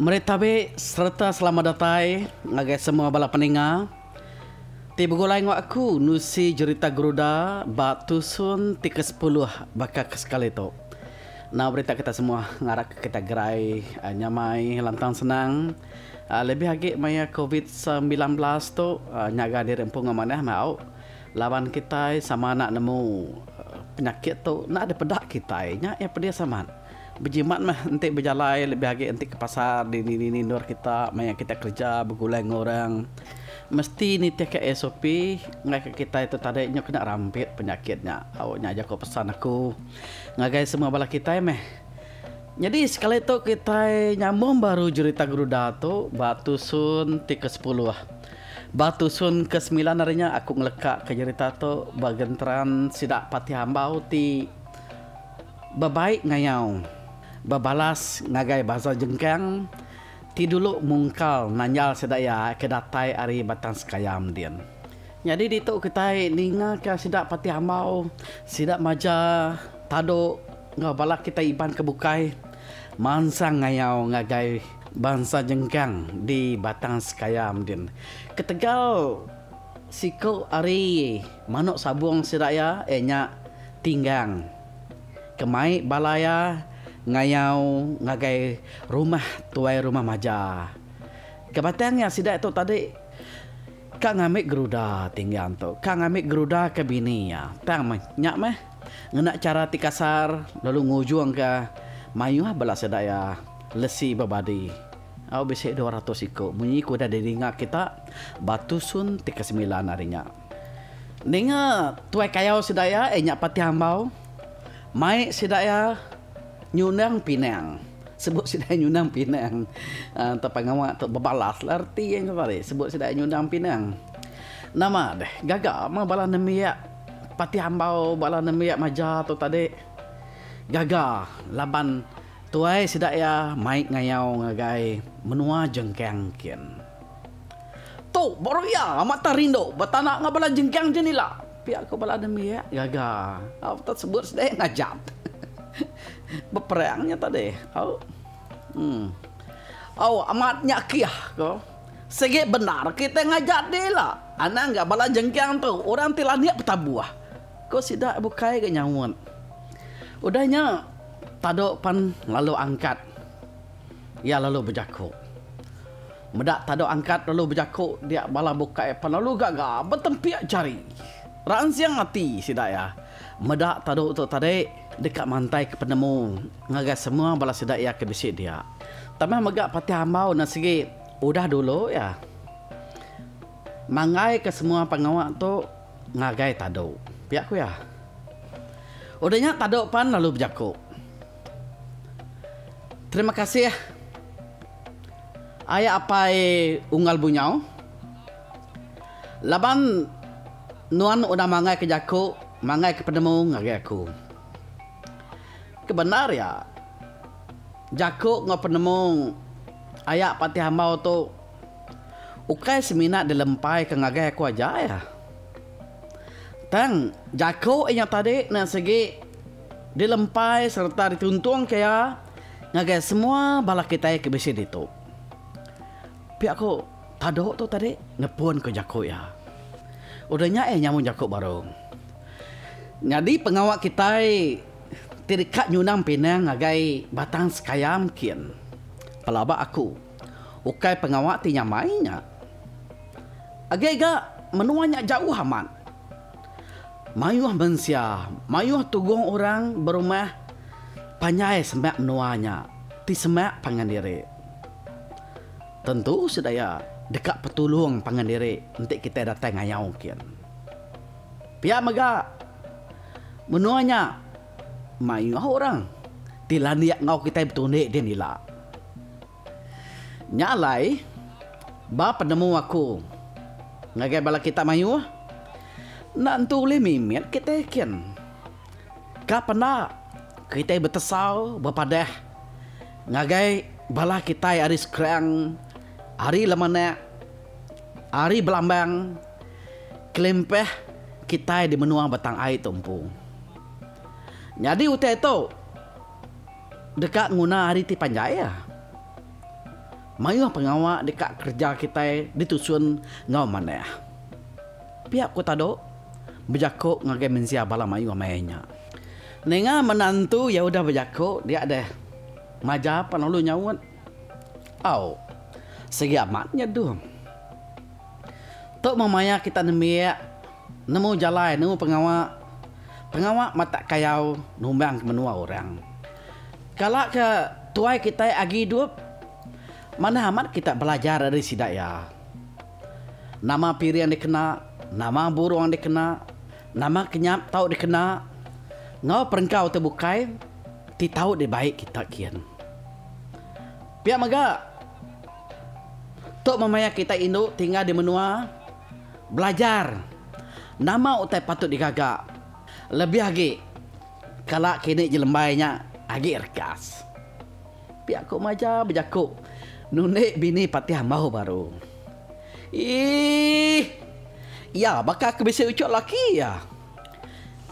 Meri tabi sereta selamat datai ngagai semua bala peninga ti begulai enggau aku nusi jerita Geruda ba tusun ti ke sepuluh baka ke sekali tu. Enggau berita kita semua ngarapka kita gerai nyamai lantang senang lebih agi maya covid sembilan belas tu nyaga diri empu enggau manah meh au. Laban kitai sama enda nemu penyakit tu enda dipeda kitai nya iya pedis amat. Bejimat meh enti bejalai lebih agi enti ke pasar dini dini endur kita maya kita kerja begulai enggau orang mesti nitih ka SOP enggai ka kitai tu tadi nyau kena rampit penyakit nya. Au nya aja ko pesan aku ngagai semua bala kitai meh. Nyadi sekali tu kitai nyambung baru jerita gerunda tu ba tusun ti ke sepuluh. Ba tusun ke semilan ari nya aku ngeleka ke jerita tu ba genteran sida Patih Ambau ti bebaik ngayau bebalas ngagai Baza Jengkang ti dulu mungkal nanjal sida iya ke datai ari Batang Sekayam din. Nyadi ditu kitai ninga ka sida Patih Ambau, sida Maja, Tado enggau bala kitai Iban ke bukai mansang ngayau ngagai. Bansa Jengkang di Batang Sekayam din ketegal siku ari manuk sabung sida iya iya nya tinggang ke mai bala iya ngayau ngagai rumah tuai rumah maja. Ke batang iya sida tu tadi ka ngambi geruda tinggang tu ka ngambi geruda ke bini iya tang meh nya meh. Ngena chara ti kasar lalu ngujungka mayuh bala sedaya lesi bebadi au bisi dua ratus iku munyi ke udah didinga kita ba tusun ti kesemilan hari nya. Ninga tuai kayau sedaya iya nya Patih Ambau mai sedaya nyundang pinang. Sebut sedaya nyundang pinang tau pengawa tu bebalas lah reti nya tadi sebut sedaya nyundang pinang. Nama deh gaga meh bala nembiak. Pati ambau bala nembiak maja tu tadi gaga laban tuai sida iya mai ngayau ngagai menua jengkang nkin. Tu baru iya amat tau rindu betana enggau bala jengkang jen ila, pia ku bala nembiak gaga aptah sebut sida ngajat beperang nya tadi. Au. Au amat nya kih ko. Sigi bendar kitai ngaja dila anang ga bala jengkang tu orang ti landik betabuh, ku sida bukai ga nyaut. Udah nya Tado pan lalu angkat iya lalu bejaku. Meda Tado angkat lalu bejaku dia bala bukai pan lalu gaga betempik jari. Ransing ati sida iya meda Tado tu tadi. deka mantaika penemu ngagai semua bala sida iya ke bisi dia. Tama mega patih ambau enda sigi udah dulu iya manggaika semua pengawa tu ngagai tadu, pia ku iya. Udah nya tadu pan lalu bejaku, Terima kasih aya apai Unggal Bunyau Laban nuan udah manggaika jaku, manggaika penemu ngagai aku. Ke bendar iya, jaku enggau penemu aya ba ati hambau tu ukai semina dilempaika ngagai aku aja iya, tang jaku inya tadi enda sigi dilempai sereta dituntungka iya ngagai semua bala kitai ke bisi ditu. Pia ku. Tado tu tadi nepun ke jaku iya. Udah nya iya nyambung jaku baru. Nyadi pengawa kitai ti deka nyunang pinang ngagai batang sekayam nkin. Pelaba aku, ukai pengawa ti nyamai nya. Agi ga menua nya jauh amat. Mayuh mensia, mayuh tugong orang berumah panjai semak menua nya ti semak pangan diri. Tentu sedaya deka petulung pangan diri enti kitai datai ngayau kin. Pia mega, menua nya mayuh orang ti landik enggau kitai betundi din ila. Nya alai, ba penemu aku ngagai bala kita mayuh, enda entu ulih mimit kitai kin. Ka penda kitai betesau bepadah ngagai bala kitai ari Skrang, ari Lemenak, ari Belambang kelimpah kitai di menua Batang Ai tu empu. Nyadi utai tu deka nguna hari ti panjai iya. Mayuh pengawa deka kereja kitai ditusun enggau manah. Pia ku Tado bejako ngagai mensia bala mayuh maya nya. Ninga menantu iya udah bejako dia deh maja pan lalu nyaut, Au, sigi amat nya dum. Tu meh maya kita nembiak nemu jalai nemu pengawa. Pengawa matak kayau numbang ke menua orang. Kala ke tuai kitai agi idup manah amat kita belajar ari sida iya. Nama piring dikena, nama burung dikena, nama kenyap tau dikena enggau perengkau tu bukai ti tau dibai kita gin. Pia mega, tu memayar kita indu ti enggau di menua belajar nama utai patut digaga lebih agi kala kini jelembai nya agi regas. Pia ko Maja bejaku nulik bini patih ambau baru. Iih. Iya baka ke bisi uchok laki iya.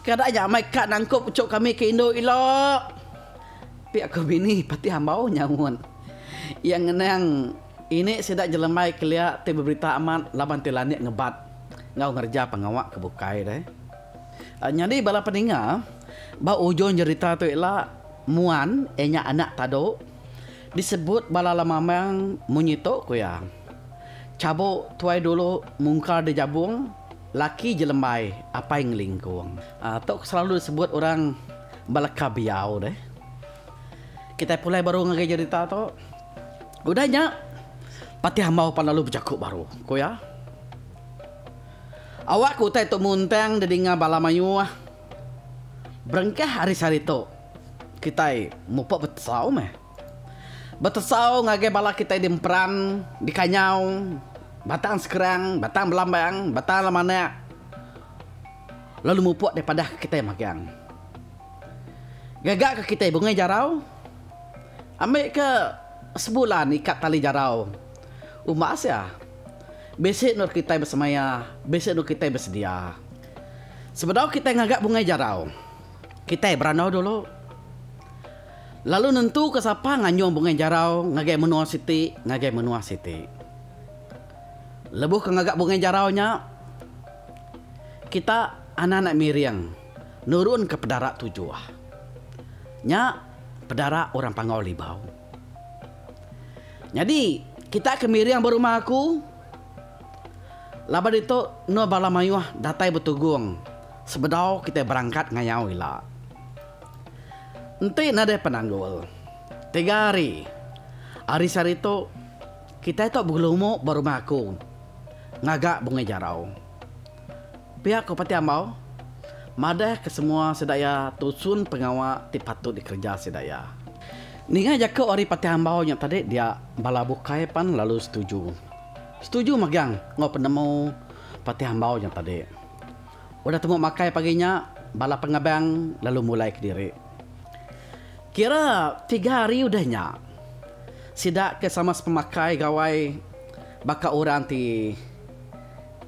Kada nya amai ka nangkup ucho kami ke indu ila. Pia ko bini patih ambau nyaut. Iya ngenang ini sida jelembai kelia ti beberita amat laban ti landik ngebat enggau ngereja pengawa ke bukai deh. Nyadi bala peninga ba ujung jerita tu ila. Muan, ianya anak padu, disebut bala lamamang munyi tu ku iya. Chabu tuai dulu mungkar di jabung, laki je lembai apai ngelingkung. Tu ke selalu disebut orang beleka biau deh. Kitai pulai baru ngagai jerita tu. Udah nya, patih ambau pan lalu bejaku baru, ku iya. Awak ke utai tu muntang didinga bala mayuh. Berengkah ari sehari tu, kitai mupuk betesau meh. Betesau ngagai bala kitai di Emperan, di Kanyau, Batang Sekerang, Batang Belambang, Batang Lemanak lalu mupuk deh padah ke kitai magang. Gaga ke kitai bungai jarau, ambi ke sebulan ikat tali jarau umbas iya. Bisi endur kitai besemaya, bisi endur kitai besedia. Sebedau kitai ngaga bungai jarau, kitai berandau dulu lalu nentuka sapa nganjung bungai jarau ngagai menua siti ngagai menua siti. Lebuh ke ngaga bungai jarau nya, kita anak-anak miring nurunka pedara tujuh. Nya pedara orang Panggau Libau. Nyadi, kita ke miring ba rumah aku, Laban ditu, endur bala mayuh datai betugung sebedau kitai berangkat ngayau ila. Enti nadai penanggul, tiga hari ari sehari tu, kitai tu begelumuk ba rumah aku ngaga Bungai Jarau. Piak ku Pati Ambau madah ke semua sida iya tusun pengawa ti patut dikereja sida iya. Ninga jaku ari Pati Ambau nya tadi dia bala bukai pan lalu setuju. Setuju megang enggau penemu Pati Ambau nya tadi. Udah temu makai pagi nya bala pengebang lalu mulai kediri. Kira tiga hari udah nya sida ke sama sepemakai gawai baka orang ti.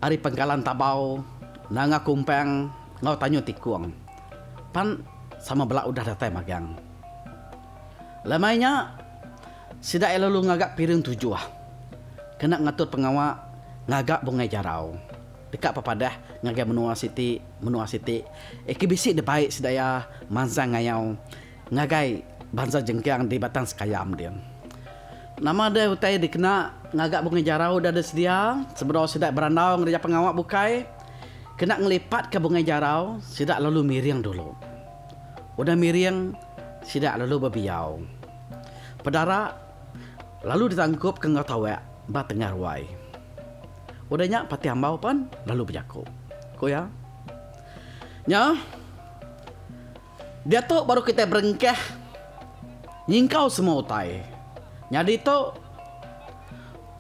Ari pengkalan tabau nang aku umpang enggau tanyu tikung pan sama bela udah datai magang. Lemai nya sida iya lalu ngaga piring tujuh kena ngatur pengawa ngaga bungai jarau deka pepadah ngagai menua siti menua siti iya ke bisi dibai sida iya mansang ngayau. Ngagai bansa jengkang di Batang Sekayam dia. Nama deh utai dikena ngaga bungai jarau da deh sedia sebedau sida berandau ngereja pengawa bukai kena ngelipatka bungai jarau sida lalu miring dulu. Udah miring sida lalu bebiau. Pedara lalu ditangkupka enggau tawek ba tengah ruai. Udah nya Patih Ambau pan lalu bejaku. Ku iya. Nya. Diatu baru kitai berengkah nyingkau semua utai. Nyadi tu,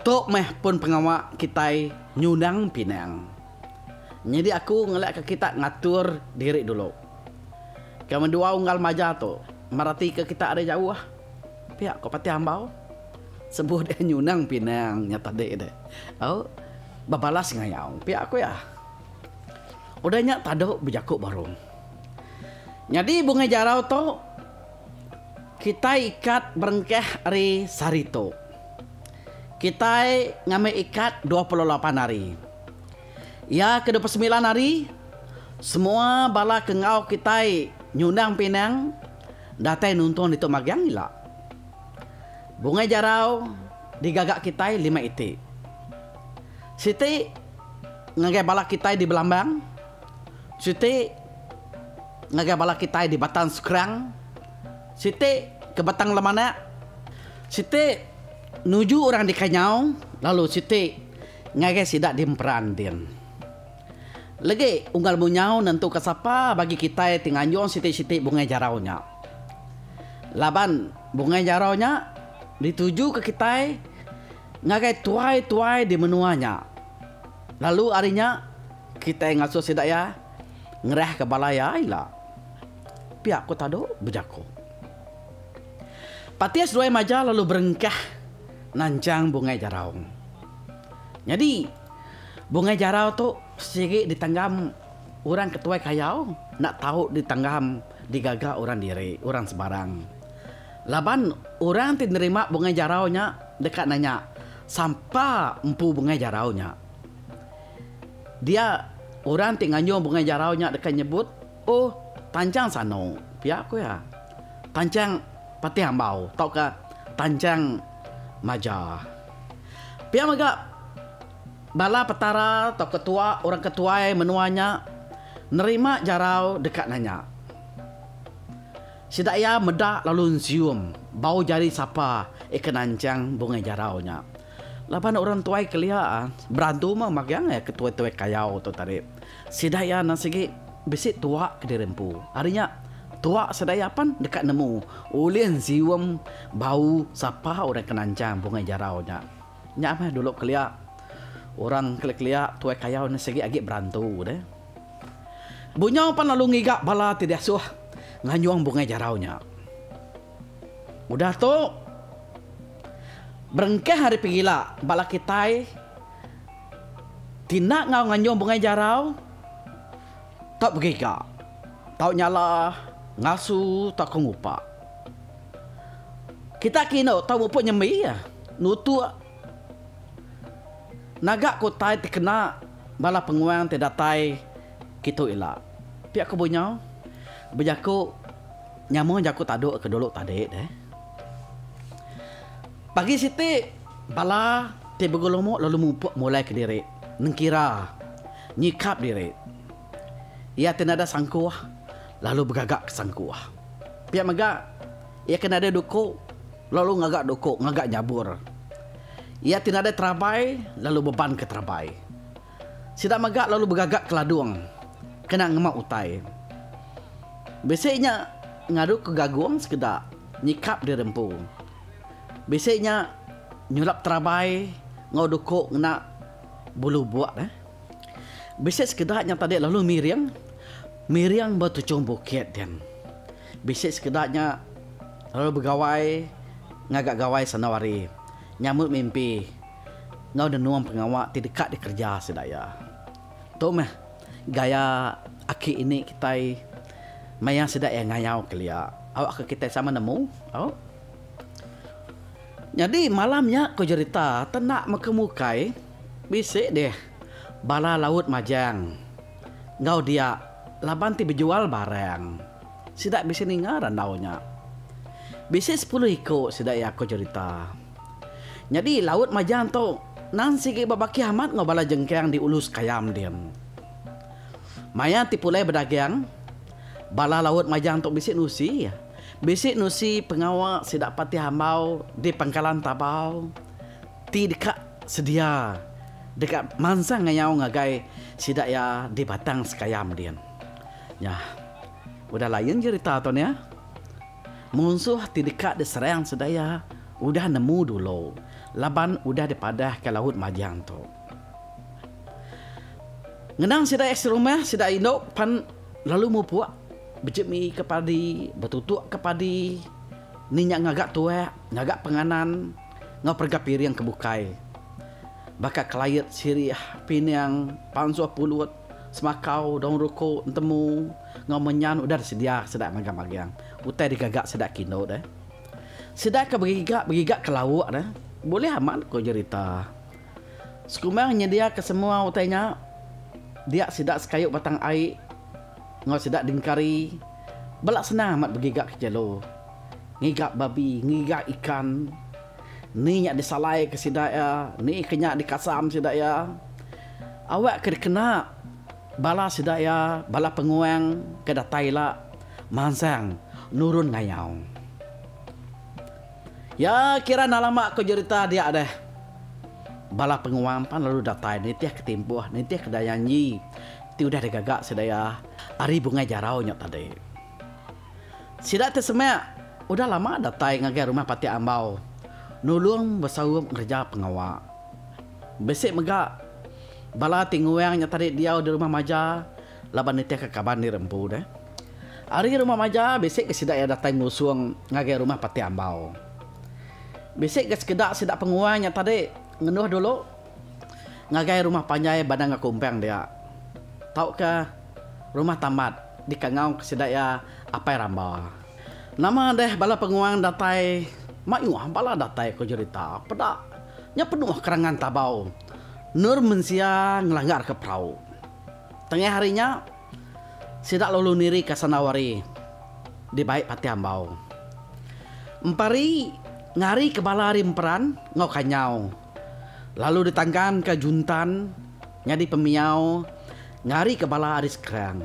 tu meh pun pengawa kitai nyunang pinang. Nyadi aku ngelakka kita ngatur diri dulu. Ke mendua unggal maja tu, meratika kita ari jauh pia ko Patih Ambau. Sebuh dia nyunang pinang nya tadi deh. Au bebalas ngayau pia ko iya. Udah nya tadu bejaku baru. Nyadi bungai jarau tu kitai ikat berengkah ari sehari tu. Kitai ngambi ikat dua puluh lapan hari. Iya ke dua puluh semilan hari semua bala ke enggau kitai nyundang pinang datai nuntung ditu magang ila. Bungai jarau digaga kitai lima iti. Siti ngagai bala kitai di Belambang Siti ngagai bala kitai di Batang Skrang, siti ke Batang Lemanak, siti nuju orang di Kanyau lalu siti ngagai sida di Emperan din. Legi unggal munyau nentuka sapa bagi kitai ti nganjung siti-siti bungai jarau nya. Laban bungai jarau nya ditujuka kitai ngagai tuai-tuai di menua nya. Lalu ari nya, kitai ngasuh sida iya ngerahka bala iya ila. Pia ku Tado bejaku. Patis Ruai Maja lalu berengkah nanjang Bungai Jarau. Nyadi, Bungai Jarau tu sigi ditanggam orang ke tuai kayau enda tau ditanggam digaga orang diri, orang sebarang. Laban orang ti nerima bungai jarau nya deka nanya, Sapa empu bungai jarau nya? Dia orang ti nganjung bungai jarau nya deka nyebut, Oh, tanchang sano, pia ku iya. Tanchang patih ambau tauka tanchang maja. Pia mega, bala petara tauka tua orang ke tuai menua nya nerima jarau deka nanya. Sida iya meda lalu nsium bau jari sapa ikan anchang bungai jarau nya. Laban orang tuai kelia berantu meh magang iya ke tuai-tuai kayau tu tadi. Sida iya endang sigi bisi tuak kediri empu. Ari nya, tuak sida iya pan deka nemu ulih nsium bau sapa orang ikan anchang bungai jarau nya. Nya meh dulu kelia. Orang kelia-kelia tuai kayau ne sigi agi berantu deh. Bunyau pan lalu ngiga bala ti diasuh nganjung bungai jarau nya. Udah tu berengkah ari pegila bala kitai ti enda enggau nganjung bungai jarau tau begiga, tau nyala, ngasu tauka ngupa. Kitai ke indu tau muput nyembi iya nutuk naga ke utai ti kena bala penguang ti datai kitu ila. Pia ku Bunyau bejaku nyambung jaku taduk ke dulu tadi deh. Pagi siti bala ti begulumuk lalu mupuk mulai kediri nengkira nyikap diri. Iya ke nadai sangkuh lalu begaga ke sangkuh. Pia mega, iya ke nadai duku lalu ngaga duku ngaga nyabur. Iya ti nadai terabai lalu beban ke terabai. Sida mega lalu begaga ke ladung kena ngema utai. Bisi nya ngadu ke gagung sekeda nyikap diri empu. Bisi nya nyulap terabai enggau duku ngena bulu buk. Bisi sekeda nya tadi lalu miring, miring ba tuchung bukit din. Bisi sekeda nya lalu begawai ngaga gawai sandau hari, nyambut mimpi enggau nenung pengawa ti deka dikereja sida iya. Tu meh gaya aki ini kitai maya sida iya ngayau kelia. Awakka kitai sama nemu, au. Nyadi malam nya ku jerita te enda meka mukai. Bisi deh bala laut majang enggau dia laban ti bejual barang. Sida bisi ninga randau nya. Bisi sepuluh iku sida iya ko cherita. Nyadi laut majang tu nan sigi bebakih amat enggau bala jengkang di ulu sekayam din. Maya ti pulai bedagang, bala laut majang tu bisi nusi. Bisi nusi pengawa sida patih ambau di pangkalan Tabau. Ti deka sedia deka mansang ngayau ngagai sida iya di Batang Sekayam din. Nya udah lain jerita tu nya. Munsuh ti deka diserang sida iya udah nemu dulu laban udah dipadahka Laut Majang tu. Ngenang sida iya serumah sida indu pan lalu mupuk bejemika padi, betutukka padi ni nya ngaga tuak, ngaga penganan. enggau perega piring ke bukai. Baka kelayet sirih, pining, pansuh pulut, semakau, daun ruku, entemu enggau menyan udah disedia sida magang magang utai digaga sida kindo deh. Sida ke begiga begiga ke lauk deh bulih amat ku jerita. Sekumang nyedia ke semua utai nya dia sida sekayu batang ai. Enggau sida dingkari, bala senang amat begiga ke jelu, ngiga babi, ngiga ikan. Ni nya disalaika sida iya, ni ke nya dikasam sida iya. Awak ke dikena bala sida iya, bala penguang ke datai ila, mansang nurun ngayau. Iya kira enda lama ku jerita dia deh. Bala penguang pan lalu datai nitihka timpuh, nitihka dayanji. Ti udah digaga sedaya ari bungai jarau nya tadi. Sida ti semak udah lama datai ngagai rumah pati ambau nulung besaup ngereja pengawa. Bisi mega bala ti nguang nya tadi diau di rumah maja laban nitihka kaban diri empu deh. Ari rumah maja bisi ke sida iya datai ngusung ngagai rumah pati ambau. Bisi ke sekeda sida penguang nya tadi ngenduh dulu. Ngagai rumah panjai Bandang Aku Umpang dia tauka Rumah Tambat dikangauka sida iya Apai Ramba. Nama deh bala penguang datai mayuh bala datai ko jerita peda nya penuh kerangan tabau endur mensia ngelanggarka perau. Tengah hari nya sida lalu nirika sandau ari dibai Patih Ambau. Empari ngarika bala ari Emperan enggau Kanyau. Lalu ditangkanka Juntan nyadi pemiau ngarika bala ari Skrang,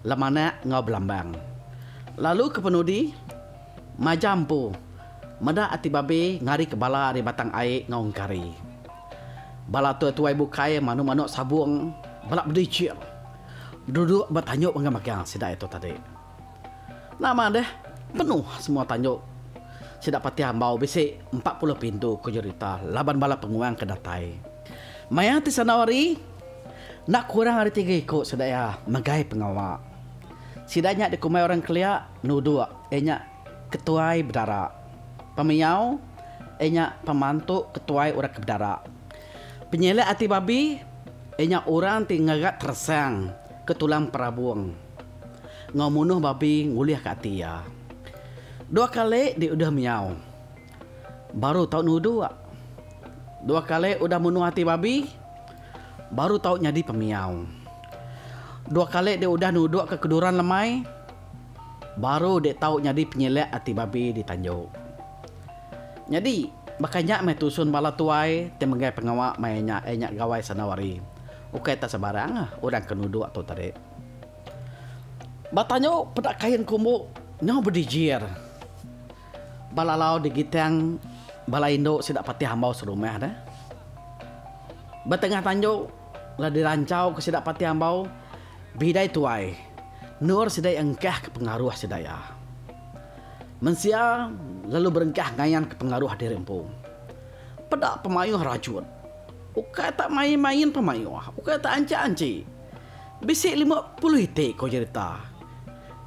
Lemanak enggau Belambang. Lalu kepenudi, majak empu, meda ati Babe ngarika bala ari Batang Ai enggau Engkari. Bala tuai-tuai bukai manuk-manuk Sabong bela bedijil, beduduk ba tanjuk mega-mega sida itu tadi. Nama deh, penuh semua tanjung. Sida pati ambau bisi empat puluh pintu ku jerita laban bala penguang ke datai. Maya ti sandau hari, enda kurang ari tiga iku sida iya megai pengawa. Sida nya dikumbai orang kelia nuduk iya nya Ketuai Bedara. Pemiyau iya nya pemantu Ketuai Orang ke Bedara. Penyilik ati babi iya nya orang ti ngegat teresang ke tulang perabung. enggau munuh babi ngulihka ati iya. Dua kali di udah menyau. Baru tau nuduk. Dua kali udah munuh ati babi. Baru tau nyadi pemiau. Dua kali di udah nudukka keduran lemai. Baru dek tau nyadi penyilek ati babi di tanju. Nyadi, baka nya meh tusun bala tuai ti megai pengawa maya nya iya nya gawai sandau hari. Ukai tak sebarang orang ke nuduk tu tadi. Ba tanyu peda kain ku umbu nyau bedijir. Ba lalau digitang bala indu sida patih ambau serumah deh. Ba tengah tanyu la diranchau ke sida patih ambau bidai tuai endur sida iya engkah ke pengaruh sida iya. Mensia lalu berengkah ngayan ke pengaruh diri empu. Peda pemayuh rajut. Ukai tak main-main pemayuh, ukai tak anchi-anchi. Bisi lima puluh iti ko jerita.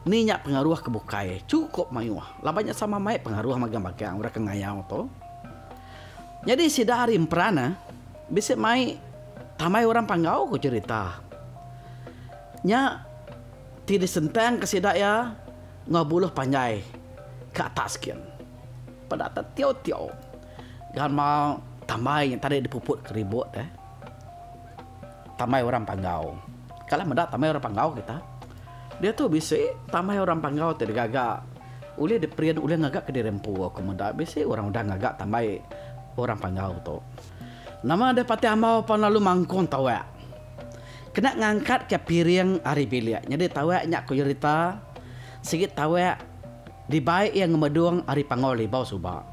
Ni nya pengaruh ke bukai chukup mayuh laban nya sama mai pengaruh magang bagang orang ke ngayau tu. Nyadi sida ari emperan eh bisi mai tambai orang panggau ko jerita nya ti disentang ke sida iya enggau buluh panjai ke atas gin. Peda te tio-tio gamal tambai nya tadi dipuput ke ribut eh. tamai orang panggau. Kala meda tamai orang panggau kita, diatu bisi tamai orang panggau ti digaga ulih diprint ulih ngaga ke diri empu aku meda bisi orang udah ngaga tambai orang panggau tu. Nama deh pati ambau pan lalu mangkung tawak. Kena ngangkat ke piring ari bilik. Nyadi tawak nya ku jerita sigi tawak dibai iya ngemedung ari panggau libau suba.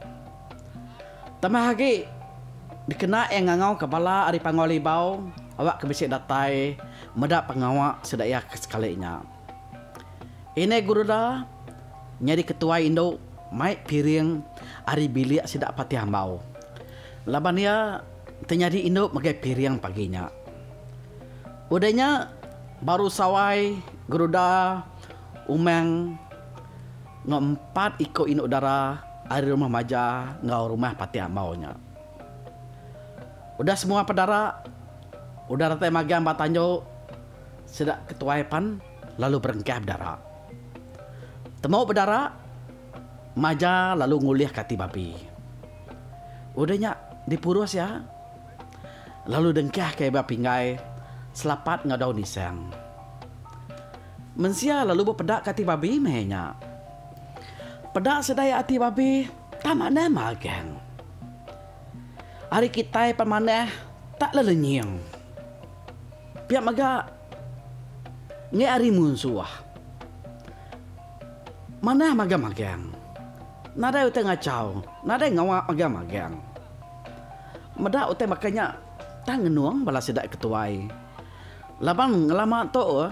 Tambah agi, dikena iya ngangauka bala ari Panggau Libau awakka bisi datai meda pengawa sida iya ke sekali nya. Inai Guruda nyadi ketuai indu mai piring ari bilik sida Patih Ambau laban iya enti nyadi indu megai piring pagi nya. Udah nya baru sawai Guruda Umang enggau empat iku indu dara ari rumah Maja enggau rumah Patik Amau nya. Udah semua pedara udah datai magang ba tandu, sida ke tuai pan lalu berengkah bedara. Temu bedara, Maja lalu ngulihka ati babi. Udah nya dipurus iya lalu dengkahka iya ba pinggai selapat enggau daun isang. Mensia lalu bepeda ke ati babi meh nya. Peda sedia ati babi tak manah magang. Ari kitai pan manah tak lelenying. Pia mega enggai ari munsuh. Manah magang magang. Nadai utai ngachau, nadai ngawa magang magang. Meda utai baka nya tang ngenung bala sida ke tuai. Laban ngelama tu,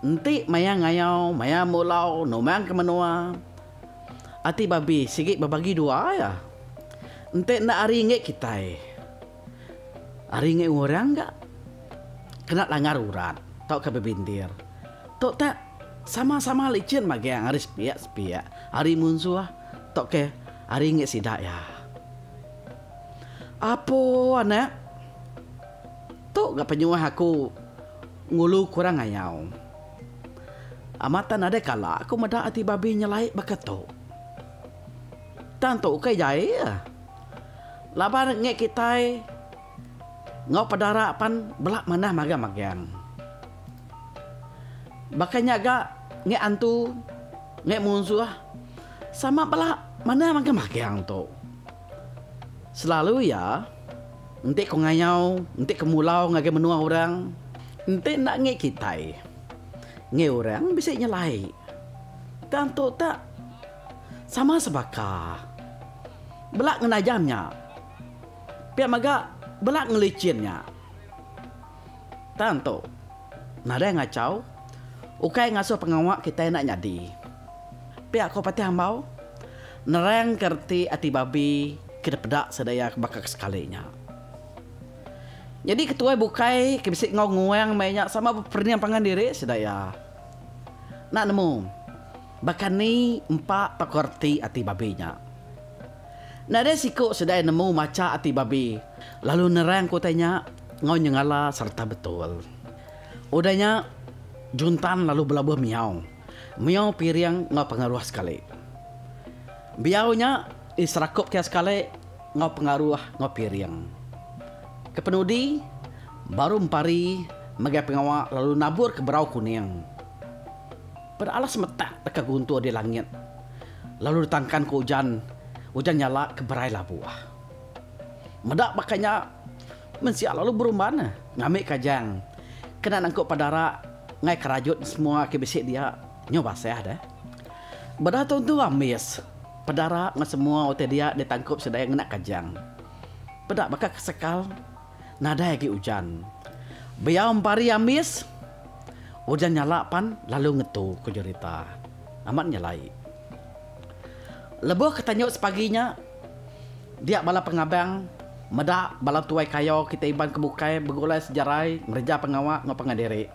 enti maya ngayau, maya mulau numang ke menua, ati babi sigi bebagi dua iya. Enti enda ari enggai kitai, ari enggai orang ga kena langgar urat tauka bebindir. Tu tak sama-sama licin magang ari sepiak-sepiak, ari munsuh tauka ari enggai sida iya. Apo anak. Tu ga penyuah aku ngulu kurang ngayau. Amat tang nadai kala aku meda ati babi nyelai baka tu. Tang tu ukai jai iya. Laban ngi kitai enggau pedara pan bela manah magang-magang. Baka nya ga ngi antu, ngi munsuh sama bela manah magang-magang tu. Selalu iya, enti ko ngayau, enti ko mulau ngagai menua orang, enti enda ngi kitai, ngi orang bisi nyelai. Tang tu tak sama sebaka. Bela ngenajam nya. Pia mega bela ngelichin nya. Tang tu. Nadai ngachau. Ukai ngasuh pengawa kitai enda nyadi. Pia ko Patih Ambau nerang ka reti ati Babi ke dipeda sedaya ke baka ke sekali nya. Nyadi ke tuai bukai ke bisi enggau nguang meh nya sama beperening pangan diri sedaya. Enda nemu baka ni empa pa ko reti ati Babi nya. Nadai siku sedaya nemu macha ati Babi lalu nerang ko utai nya. enggau nyengala sereta betul. Udah nya, Juntan lalu belabuh miyau. Miyau piring enggau pengaruh sekali. Biyau nya diserakup kiya sekali enggau pengaruh enggau piring. Kepenudi, baru empari megai pengawa lalu nabur ke berau kuning. Peda alas metak deka guntur di langit lalu ditangkan ku ujan, ujan nyala ke berai labuh. Meda baka nya, mensia lalu berumban ngambi kajang kena nangkup padara ngai kerajut semua ke bisi dia nyu basah deh. Beda tentu ambis, padara enggau semua utai dia ditangkup sida iya ngena kajang. Peda baka kesekal, nadai agi ujan. Beyau empari ambis, ujan nyala pan lalu ngetu, ku Jurita. Amat nyelai. Lebuh ke tanjut sepagi nya, dia bala pengabang meda bala tuai kayo kitai Iban ke bukai begulai sejarai ngereja pengawa enggau pangan diri.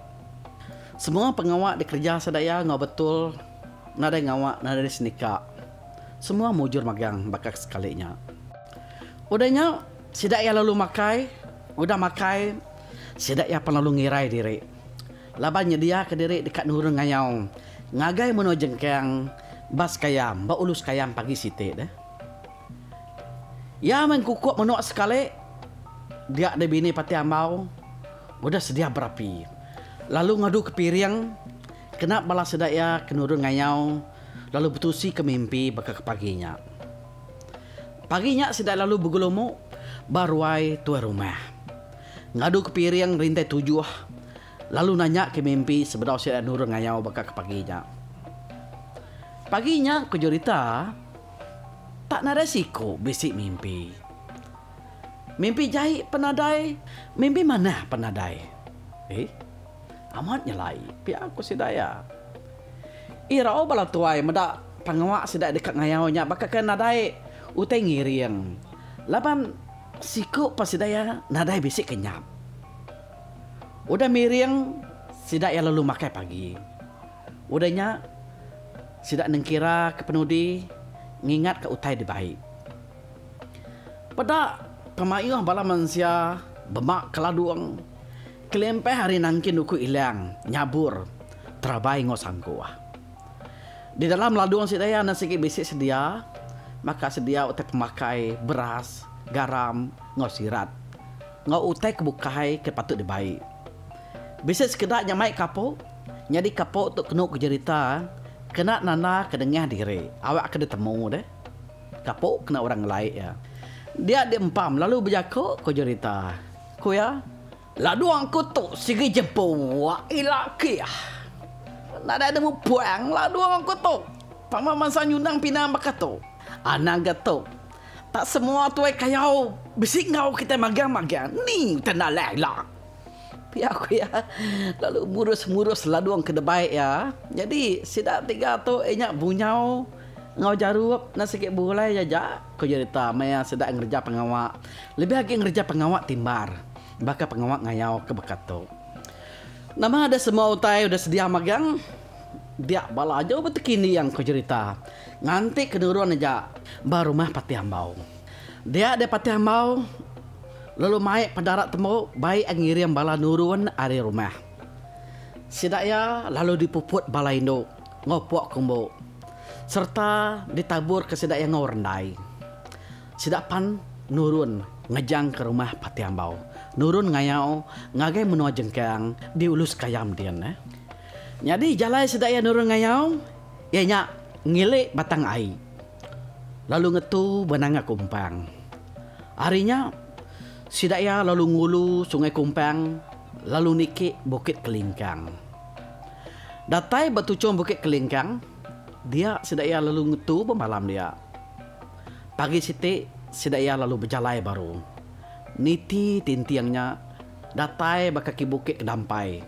Semua pengawa dikereja seda iya enggau betul nadai ngawa nadai senika. Semua mujur magang baka ke sekali nya. Udah nya sida iya lalu makai, udah makai sida iya pan lalu ngirai diri. Laban nyediaka diri deka nurun ngayau ngagai menua jengkang ba sekayam ba ulu sekayam pagi siti deh. Iya meh engkukuk menua sekali dia deh bini pati ambau udah sedia berapi lalu ngadu ke piring kena bala sida iya ke nurun ngayau lalu betusi ke mimpi baka ke pagi nya. Pagi nya sida lalu begelumu ba ruai tuai rumah. Ngadu ke piring ngelintai tujuh lalu nanya ke mimpi sebedau sida nurun ngayau baka ke pagi nya. Pagi nya ku Jurita tak nadai siku bisi mimpi. Mimpi jai pen nadai. Mimpi manah pen nadai. Ih, amat nyelai pia ku sida iya. Irau bala tuai meda pengawa sida deka ngayau nya baka ke nadai utai ngiring laban. Siku pan sida iya nadai bisi ke nyap. Udah miring sida iya lalu makai pagi. Udah nya sida nengkira ke penudi ngingat ka utai dibai. Peda pemaioh bala mensia bema keladung kelimpah ari nangkin uku ilang nyabur terabai enggau sangkuh. Di dalam ladung sida iya enda sigi bisi sedia baka sedia utai pemakai beras, garam enggau sirat enggau utai ke bukai ke patut dibai. Bisi sekeda nya mai kapo nyadi kapo tu kenu kejerita kena nanda ke dengah diri awak ke ditemu deh kapo kena orang ngelai iya dia diempam lalu bejaku ko jerita ko iya Ladong ku tu sigi jebuak ila kih. Nadai nemu puang ladong ku tu. Tama bansa nyunang pinang baka tu. Anang ga tu. Tak semua tuai kayau bisi enggau kitai magang-magang ni ke nalan ila. Pia ku iya lalu murus-murus ladong ke debai iya. Nyadi sida tiga tu inya bunyau enggau jarup enda sigi bulai aja. Ku Yudita, maya sida ngereja pengawa, lebih agi ngereja pengawa timbar baka pengawa ngayau ke baka tu. Nama ada semua utai udah sedia magang? Dia bala aju betekindiang ku Yudita, nganti ke nurun aja ba rumah Patih Ambau. Dia deh Patih Ambau lalu mai pendarat tembu bai iya ngiring bala nurun ari rumah. Sida iya lalu dipuput bala indu. enggau puak kumbu sereta ditaburka sida iya enggau rendai. Sida pan nurun ngejangka rumah Pati Ambau, nurun ngayau ngagai menua jengkang di Ulu Sekayam din neh. Nyadi jalai sida iya nurun ngayau iya nya ngili batang ai lalu ngetu ba nanga Kumpang. Ari nya sida iya lalu ngulu Sungai Kumpang lalu niki Bukit Kelingkang. Datai ba tuchung Bukit Kelingkang, dia sida iya lalu ngetu bemalam dia. Pagi siti, sida iya lalu bejalai baru. Niti tinting nya, datai ba kaki Bukit Kedampai.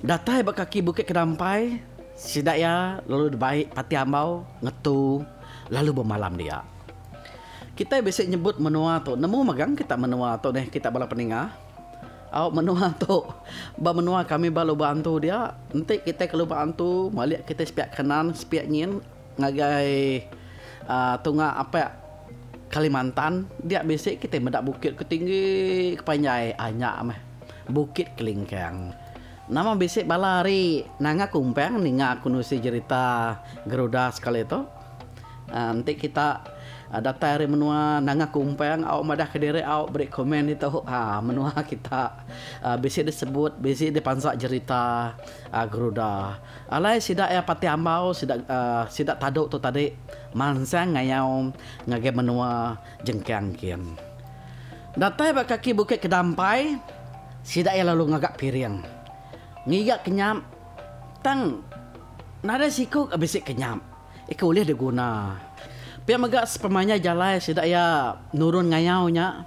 Datai ba kaki Bukit Kedampai, sida iya lalu dibai pati ambau ngetu lalu bemalam dia. Kitai bisi nyebut menua tu, nemu megang kita menua tu deh kita bala peninga? Au menua tu. Ba menua kami ba lubang antu dia, enti kitai ke lubang antu malik kitai sepiak kanan sepiak nyin ngagai aaa tunga apak Kalimantan dia bisi kitai meda bukit ke tinggi ke panjai aaa nya meh Bukit Kelingkang. Nama bisi bala ari Nanga Kumpang ninga aku nusi jerita Garuda sekali tu. Enti kita datai ari menua nanga kumpang au madah kediri au beri komen ditu haa menua kita bisi disebut bisi dipansa jerita geruda. Alai sida iya pati ambau sida uhh sida tadu tu tadi mansang ngayau ngagai menua jengkang kin. Datai ba kaki bukit kedampai sida iya lalu ngaga piring ngiga kenyap tang nadai siku ka bisi kenyap. Ika ulih diguna. Pia mega sepemanjai jalai sida iya nurun ngayau nya,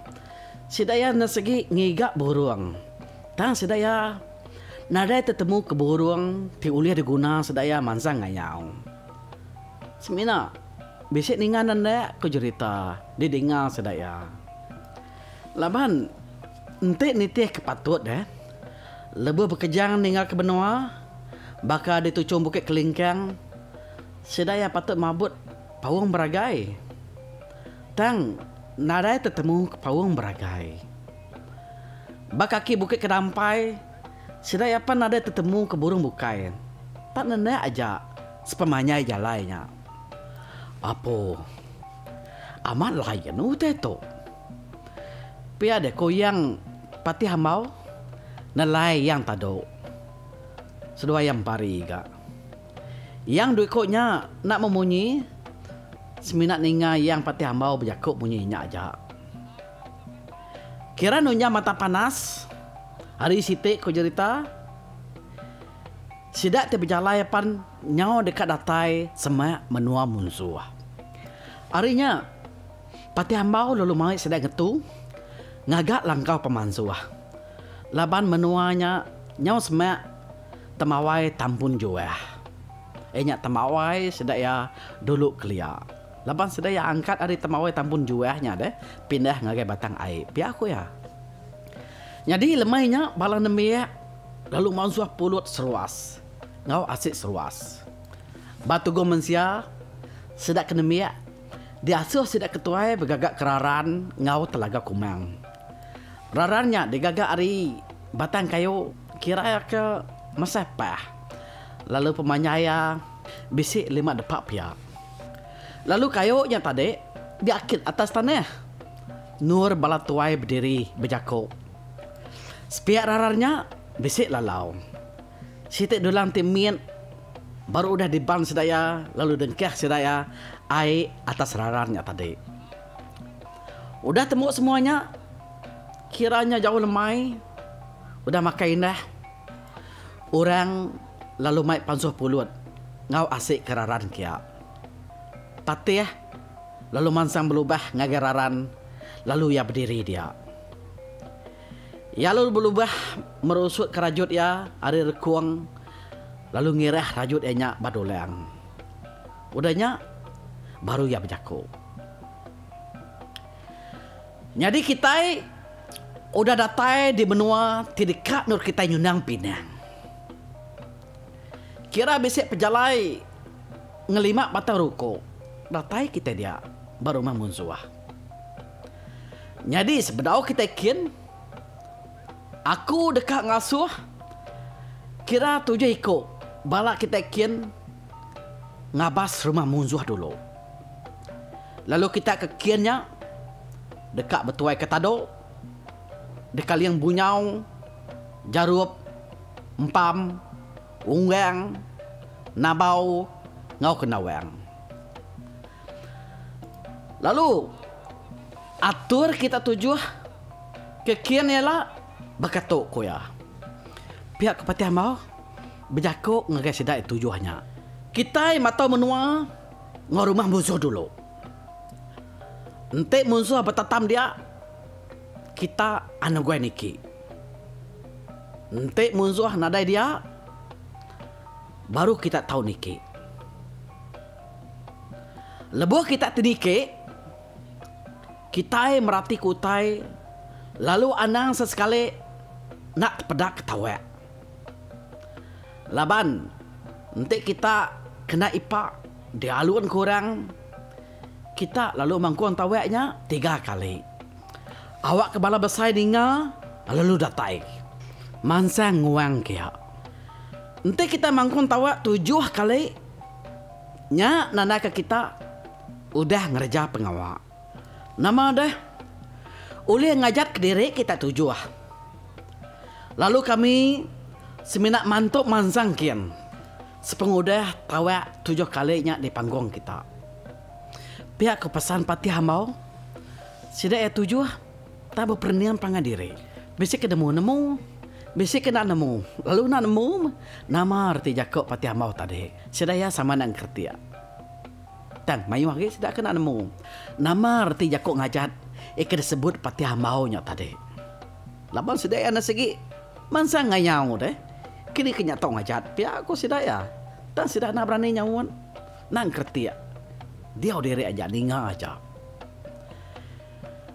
sida iya enda sigi ngiga burung. Tang sida iya nadai tetemu ke burung ti ulih diguna sida iya mansang ngayau. Semina bisi ninga enda ko jerita didinga sida iya. Laban enti nitih ke patut eh. Lebuh bekejang ninggalka benoa, baka di tuchung Bukit Kelingkang, sida iya patut mabut paung beragai. Tang, nadai tetemu paung beragai. Ba kaki Bukit Kedampai, sida iya pan nadai tetemu ke burung bukai. Tak nenek aja sepemanjai jalai nya. Apo, amat lain utai tu. Pia deh ko Yang Patih Ambau, Nelai Yang Tado, seduai Yang Pari ga. Yang due ko nya enda meh munyi, semina ninga Yang Patih Ambau bejako munyi nya aja. Kira nunjang mata panas, ari siti ko jerita, sida ti bejalai apan nyau deka datai semak menua munsuh. Ari nya. Pati Ambau lalu mai sida ngetu ngaga langkau pemansuh laban menua nya nyau semak temawai tampun juah. Iya nya temawai sida iya dulu kelia laban sida iya angkat ari temawai tampun juah nya deh pindah ngagai Batang Ai, pia ku iya. Nyadi lemai nya bala nembiak lalu mansuh pulut seruas enggau asi seruas. Ba tugu mensia sida ke nembiak Diasuh sida ke tuai begaga ke raran enggau telaga kumang. Raran nya digaga ari batang kayu kira iya ke meseh pah lalu pemanjai iya bisi lima depa pia. Lalu kayu nya tadi diakit atas tanah. Nur bala tuai bediri bejaku. Sepiak raran nya bisi lalau. Siti dulang ti mit baru udah diban sedaya lalu dengkah sedaya ai atas raran nya tadi. Udah tembu semua nya, kira nya jauh lemai, udah makai indah, orang lalu mai pansuh pulut enggau asika raran kia. Patih lalu mansang belubah ngagai raran lalu iya bediri dia. Iya lalu belubah merusutka rajut iya ari rekung lalu ngirah rajut iya nya ba dulang. Udah nya, baru iya bejaku. Nyadi kitai udah datai di menua ti deka endur kitai nyunang pinang. Kira bisi pejalai ngelima batang ruku datai kitai dia ba rumah munsuh. Nyadi sebedau kitai kin, aku deka ngasuh kira tujuh iku bala kitai kin ngabas rumah munsuh dulu. Lalu kitai ke kin nya deka betuaika tado, dekaling bunyau, jarup, empam, unggang, nabau enggau kendawang. Lalu, atur kita tujuh ke kin ila baka tu, ku iya. Pia ke Patih Ambau bejaku ngagai sida iya tujuh nya, Kitai matau menua enggau rumah munsuh dulu. Enti munsuh betatam dia, kita anu guai niki. Enti munsuh nadai dia, baru kita tau niki. Lebuh kita ti niki, kitai meratika utai lalu anang sesekali enda tepeda ke tawak. Laban enti kita kena ipa dialun ke orang, kita lalu mangkung tawak nya tiga kali. Awakka bala besai ninga lalu datai mansang nguang kia. Enti kita mangkung tawak tujuh kali. Nya nandaka kita udah ngereja pengawa. Nama deh, ulih ngajar kediri kita tujuh. Lalu kami semina mantu mansang kin sepengudah tawak tujuh kali nya di panggung kita. Pia ku pesan Patih Ambau, sida iya tujuh. Tang beperening pangan diri. Bisi ke nemu nemu. Bisi ke enda nemu. Lalu enda nemu meh. Nama reti jaku pati amau tadi. Sida iya sama enda ngeretik. Tang mayuh agi sida ke enda nemu. Nama reti jaku ngajat iya ke disebut pati amau nya tadi. Laban sida iya enda sigi mansang ngayau deh. Kini ke nya tau ngajat pia ku sida iya. Tang sida enda berani nyaut. Enda ngeretik. Diau diri aja ninga aja.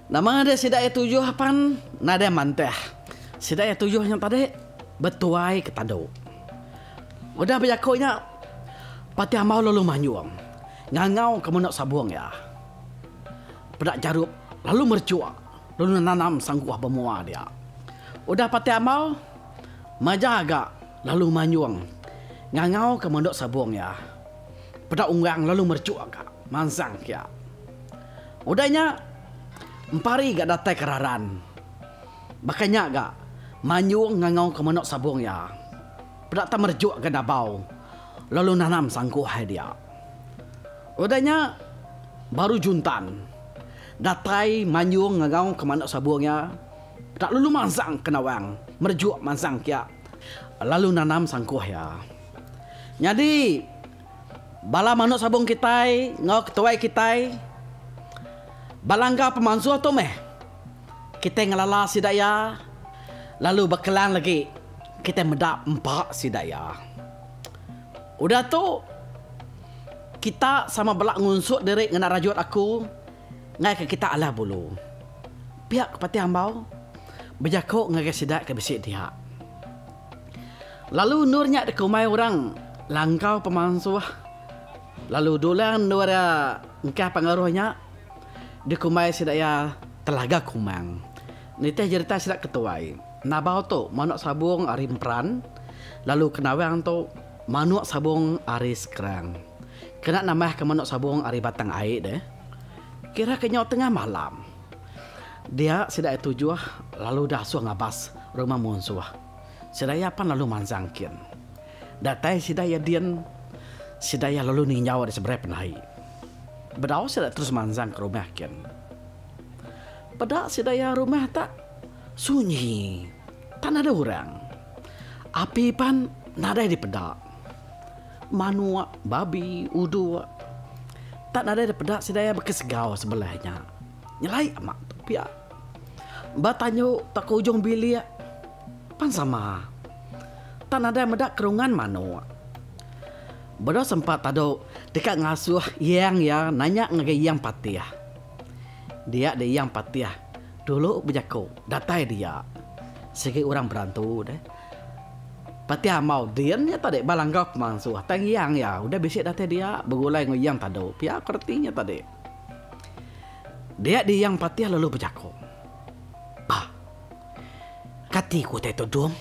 Nama ngagai sida iya tujuh pan nadai mantah. Sida iya tujuh nya tadi betuai ke tandu. Udah bejaku nya, Pati Amau lalu manyung ngangau ke menoa sabung iya. Peda Jarup lalu merechok lalu nenanam sangkuh ba moa dia. Udah Pati Amau maja ga lalu manyung ngangau ke menoa sabung iya. Peda Unggang lalu merechok ka mansang ke iya. Udah nya, empari ga datai ke Raran. Baka nya ga, Manyung ngangauka manuk sabung iya. Peda tang merejukka dabau lalu nanam sangkuh ai dia. Udah nya, baru juntan, datai Manyung ngangauka manuk sabung iya, peda lalu mansang ke Nawang, merejuk mansang kia lalu nanam sangkuh iya. Nyadi. bala manuk sabung kitai enggau ketuai kitai belanggar pemansuh tu meh. Kitai ngelala sida iya lalu bekelang legi kitai meda empa sida iya. Udah tu kita sama bela ngunsut diri ngena rajut aku ngaika kita alah bulu. Pia ke Patih Ambau bejaku ngagai sida ke bisi diak. Lalu endur nya deka umai orang langkau pemansuh lalu dulang endur engkah pengaruh nya deka umai sida iya telaga kumang. Nitih jerita sida ke tuai, Nabau tu manuk sabung ari Emperan lalu Kenawang tu manuk sabung ari Skrang. Kena nambahka manuk sabung ari Batang Ai deh. Kira ke nyau tengah malam. Dia sida iya tujuh lalu dasuh ngabas rumah munsuh. Sida iya pan lalu mansang kin. Datai sida iya din, sida iya lalu ninjau di seberai penai. Bedau sida terus mansang ke rumah kin. Peda sida iya rumah tak sunyi, tak nadai orang. Api pan nadai dipeda. manok, babi, udok. Tak nadai da peda sida iya baka segau sebelah nya. Nyelai ama tu pia. Ba tanyuk tauka ujung bilik pan sama. Tak nadai meda kerungan manok. Bedau sempa tadu deka ngasuh iyang iya nanya ngagai iyang patih. Dia deh iyang patih dulu bejaku datai dia sigi orang berantu deh. Pati amau din nya tadi bala enggau pemansu atai ngiang iya udah bisi datai dia begulai enggau iyang tadu pia ko reti nya tadi. Dia di iyang patih lalu bejako. Bah. Kati ko utai tudung?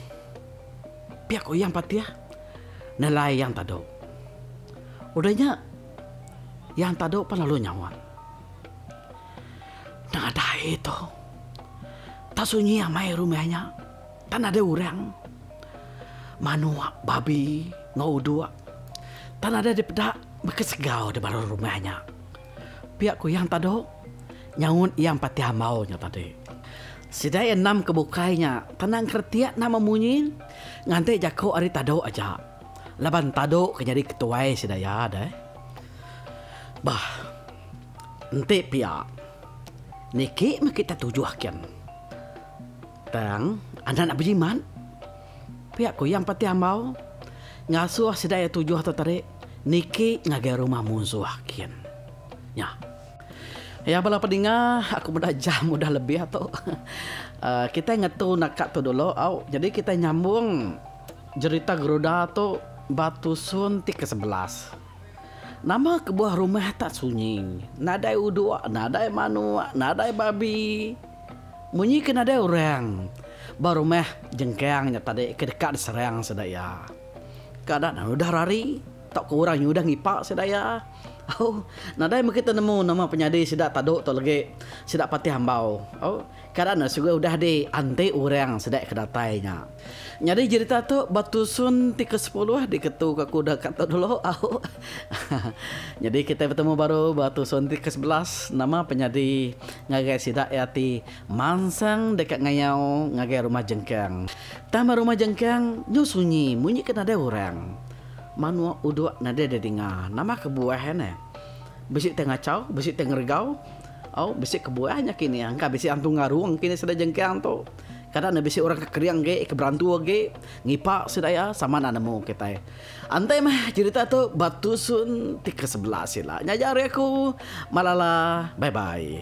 Pia ko iyang patih nelai iyang tadu. Udah nya iyang tadu pun lalu nyaut. Nadai tu. Tak sunyi amai rumah nya. Pan ada orang manok babi enggau udok. Tan ada dipeda baka segau di baruh rumah nya. Pia ku Yang Tado nyaut iya empati ambau nya tadi. Sida iya endam ke bukai nya tan nang keretik nama munyi nganti jako ari Tado aja laban Tado ke nyadi ketuai sida iya deh. Bah enti pia niki meh kita tujuh kin. Tang, enda enda bejimat. Pia ku iya empa ti ambau. Ngasuh sida iya tujuh tu tadi niki ngagai rumah munsuh kin. Nya. Aya bala pedinga, aku meda jam udah lebih tu. Uhh kitai ngetu naka tu dulu au. Jadi kitai nyambung jerita Geruda tu ba tusun ti ke sebelas. Nama kebuah rumah tak sunyi. Nadai uduk, nadai manuk, nadai babi. Munyi ke nadai orang ba rumah jengkang nya tadi ke deka diserang sida iya. Ka ada nan udah rari tauka orang nya udah ngipa sida iya. Au, nadai mega kita nemu nama penyadi sida tadu tu legi sida patih ambau. Au, ka ada ne sugi udah dianti orang sida ke datai nya. Nyadi jerita tu ba tusun ti ke sepuluh diketu ka kuda ka tu dulu au. Nyadi kitai betemu baru ba tusun ti ke sebelas nama penyadi ngagai sida iya ti mansang deka ngayau ngagai rumah jengkang. Tang ba rumah jengkang nyu sunyi munyi ke nadai orang. Manuk uduk nadai didinga nama kebuah iya neh. Bisi ti ngachau bisi ti ngeregau au bisi kebuah nya kinih engka bisi antu ngarung kinih sida jengkang tu. Kada ne bisi orang ke kering agi, ke berantu agi, ngipa sida iya sama enda nemu kitai. Antai meh cerita tu ba tusun ti ke sebelah sila. Nya aja ari aku. Malala. Bye bye.